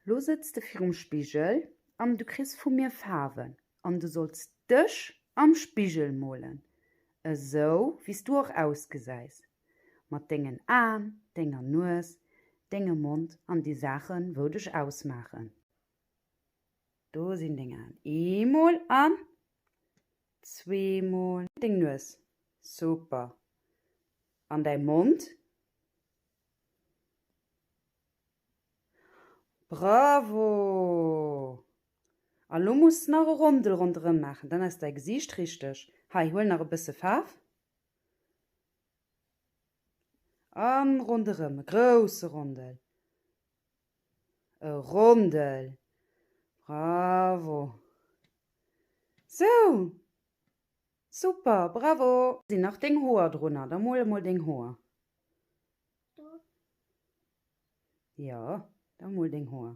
Lo sëtz de virum Spigel an du kriss vu mir Faarwen an du solls dech am Spigel molen, esou wéi s du och ausgesäis, mat dengen Aen, denger Nues, dengem Mond an déi Saachen wou dech ausmaachen. Do sinn deng Aen eemol an. Zwee mol. Deng Nues. Super. An däi Mond. Bravo! A lo muss s de nach e Rondel ronderëm maachen, dann ass däi Gesiicht richteg. Hei, huel nach e bësse Faarf. A ronderëm, e grousse Rondel. E Rondel! Bravo! Sou! Super! Bravo! Sinn nach deng Hoer drunner? Da mol emol deng Hoer. Do. Jo, da mol deng Hoer.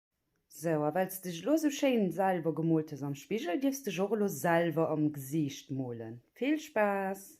Sou, a wells de elo sou schéin selwer gemoolt hues am Spigel, dierfs dech och elo selwer am Gesiicht molen. Vill Spaass!